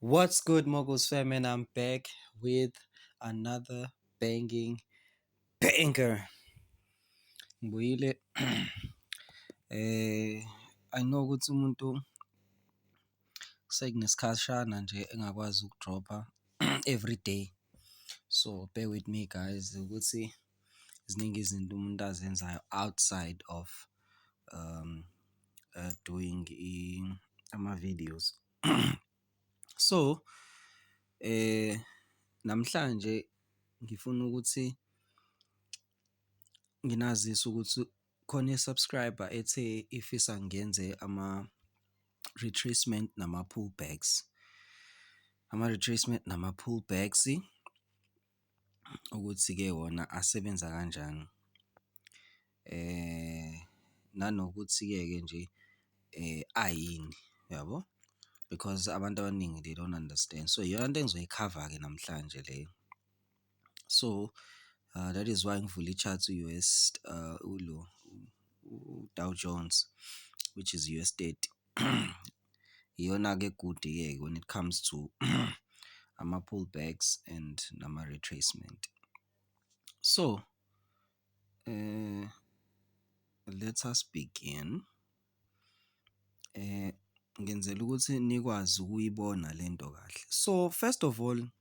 What's good, Moguls fam? And I'm back with another banging banger. Ngibuyile. eh I know ukuthi umuntu sekunesikhashana nje engakwazi ukudropha every day. So bear with me guys ukuthi ziningi izinto umuntu azenzayo outside of um doing ama-videos. So, namhlanje ngifuna ukuthi nginazise ukuthi khona i-subscriber ethe ifisa ngenze ama-retracement nama-pull backs, ama-retracement nama-pull backs. ukuthi-ke wona asebenza kanjani. Nanokuthi-ke ke nje ayini yabo? Because abantu abaningi they don't understand. So, iyona nto engizoyikhava-ke namhlanje leyo. So, that is why ngivule i-chart u-U_S ulo uDow Jones, which is u-S thirty. Iyona-ke egudi-ke when it comes to ama-pull backs and nama-retracement. So, let us begin. Ngenzela ukuthi nikwazi ukuyibona le nto kahle. So, first of all,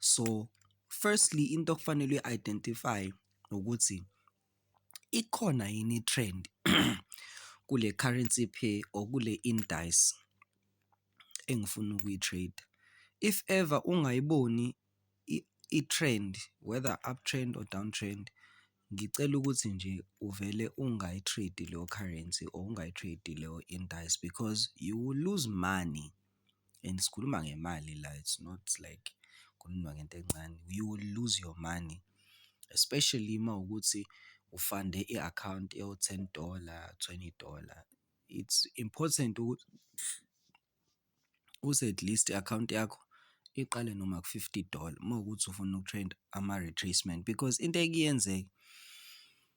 So firstly into okufanele uyi-identify-e ukuthi ikhona yini i-trend kule currency pair or kule indice engifuna ukuyi-trade-a. If ever ungayiboni i-trend whether up trend or down trend, ngicela ukuthi nje uvele ungayi-trade-i leyo currency or ungayi-trade-i leyo indice because you will lose money. and sikhuluma ngemali la it's not like kukhulunywa ngento encane. You will lose your money especially uma kuwukuthi ufande i-akhawunti ewu-ten dollar, twenty dollar. It's important ukuthi uthi at least i-akhawunti yakho iqale noma ku-fifty dollar uma kuwukuthi ufuna uku-trade ama-retracement because into eke yenzeke.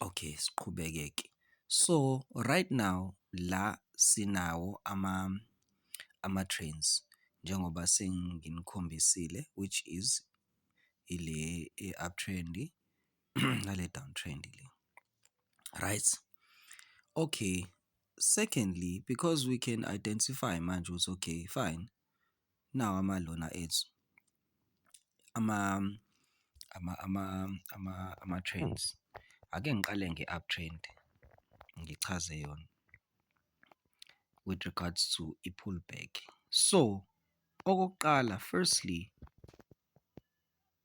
Okay, siqhubeke-ke. So right now la sinawo ama ama-trains njengoba senginikhombisile which is ile e-uptrend nale downtrend le. Right? Okay, secondly because we can identify manje ukuthi okay fine nawo amandla wona ethu ama-trains. Ake ngiqale nge-up trend, ngichaze yona with regards to i-pull back. So, okokuqala firstly,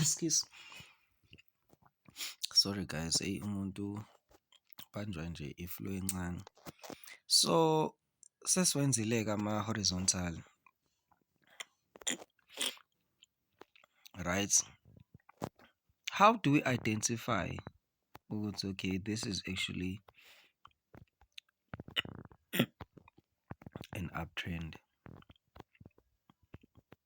Ekskusi. Sorry guys, eyi umuntu ubanjwa nje i-flu encane. So sesiwenzile-ke ama-horizontal. Right? How do we identify ukuthi okay this is actually an uptrend?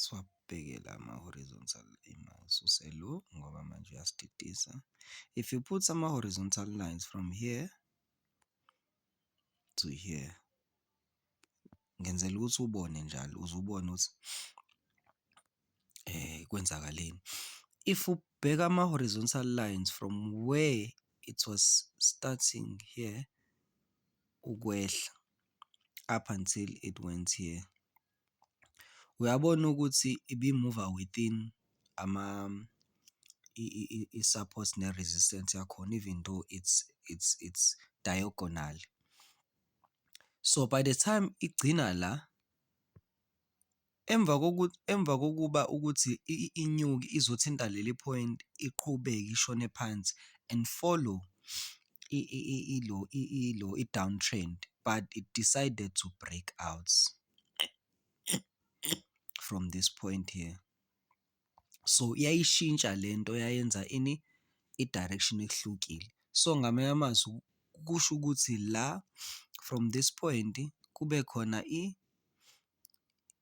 Siwabheke la ama-horizontal ngiwasuse lo ngoba manje uyasididisa. If you put ama-horizontal lines from here to here, ngenzela ukuthi ubone njalo uze ubone ukuthi kwenzakaleni. If ubheka ama-horizontal lines from where it was starting here ukwehla up until it went here. Uyabona ukuthi ibimuva within i-support ne-resistance yakhona even though it's it's it's diagonal. So by the time igcina la, emva emva kokuba ukuthi inyuke izothinta leli phoyinti iqhubeke ishone phansi and follow ilo ilo i-down trend but it decided to break out from this point here. So yayishintsha le nto yayenza ini, i-direction ehlukile. So ngamanye amazwi kusho ukuthi la from this point kube khona i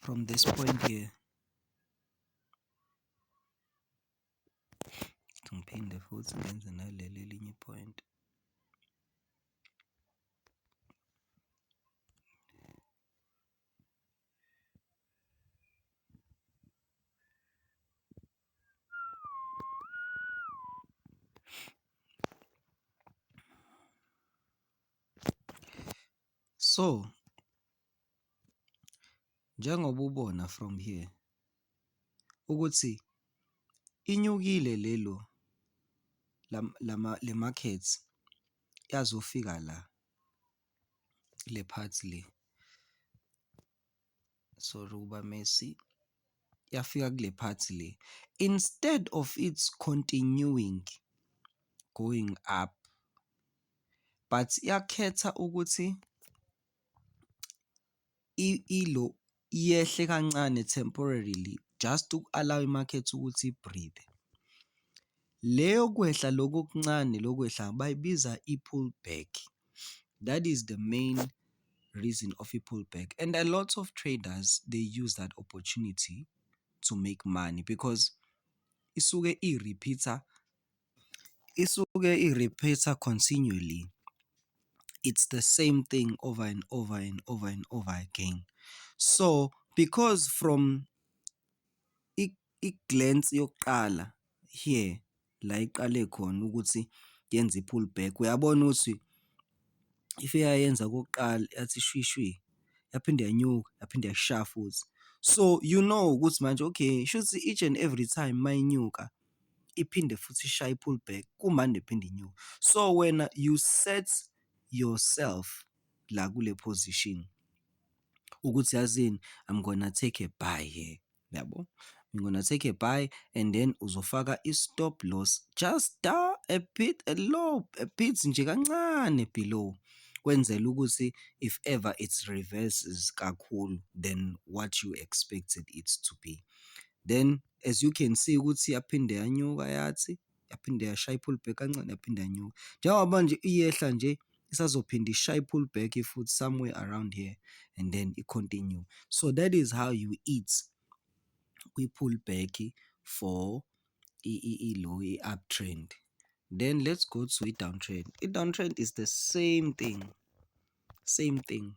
from this point here ngiphinde futhi ngenze naleli elinye point So njengoba ubona from here ukuthi inyukile lelo le market yazofika la le part le sorry ukuba messy yafika kule part le instead of its continuing going up but yakhetha ukuthi i-ILO yehle kancane temporarily just uku-allow i-market ukuthi i-breathe. Le yokwehla loku okuncane lokwehla bayibiza i-pull back, that is the main reason of i-pull back and a lot of traders they use that opportunity to make money because isuke i-repeat-a Isuke i-repeat-a continually, it's the same thing over and over and over and over again. So, because from i-glance yokuqala here la iqale khona ukuthi yenze i-pull back, uyabona ukuthi if eyayenza okokuqala yathi shwi shwi, yaphinde yanyuka, yaphinde yasha futhi. So, you know ukuthi manje okay shuthi each and every time uma inyuka iphinde futhi ishaye i-pull back kumane iphinde inyuke. So wena you set yourself la kule position ukuthi yazini I'm gonna take a buy here yabo I'm gonna take a buy and then uzofaka i-stop loss just da a bit a low a bit nje kancane below kwenzela ukuthi if ever it reverses kakhulu than what you expected it to be then as you can see ukuthi yaphinde yanyuka yathi, yaphinde yashaya i-pull back kancane yaphinde yanyuka. Njengoba manje iyehla nje isazophinde ishaye i-pull back futhi somewhere around here and then i-continue. So that is how you eat kwi-pull back for i-low i-uptrend. Then let's go to i-downtrend. I-downtrend is the same thing, same thing.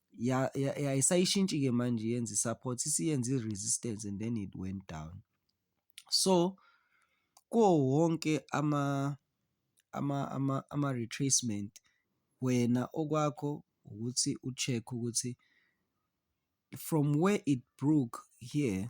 ayisayishintshi-ke manje yenza i-support, isiyenza i-resistance and then it went down. So, kuwo wonke ama-retracement, wena okwakho ukuthi u-check-e ukuthi from where it broke here.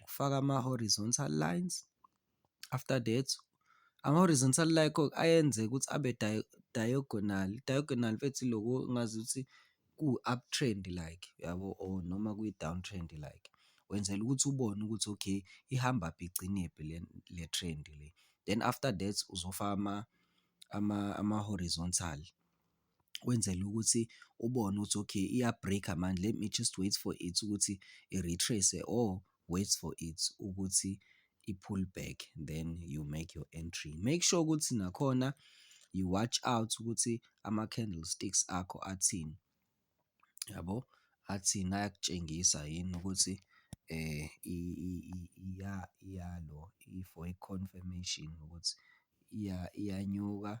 ukufaka ama-horizontal lines, after that ama-horizontal line kho ayenzeka ukuthi abe diagonal, diagonal mfethu iloku ongazi ukuthi kuwu-up trend like yabo or noma kuyi-down trend like. Wenzela ukuthi ubone ukuthi okay ihambaphi igcinephi le le trend le. Then after that uzofaka ama-horizontal wenzela ukuthi ubone ukuthi okay iya-break-a manje let me just wait for it ukuthi i-retrace-e or wait for it ukuthi i-pull back then you make your entry. Make sure ukuthi nakhona you watch out ukuthi ama-candlesticks akho athini, yabo? Athini, ayakutshengisa yini ukuthi iyalo for i-confirmation ukuthi iyanyuka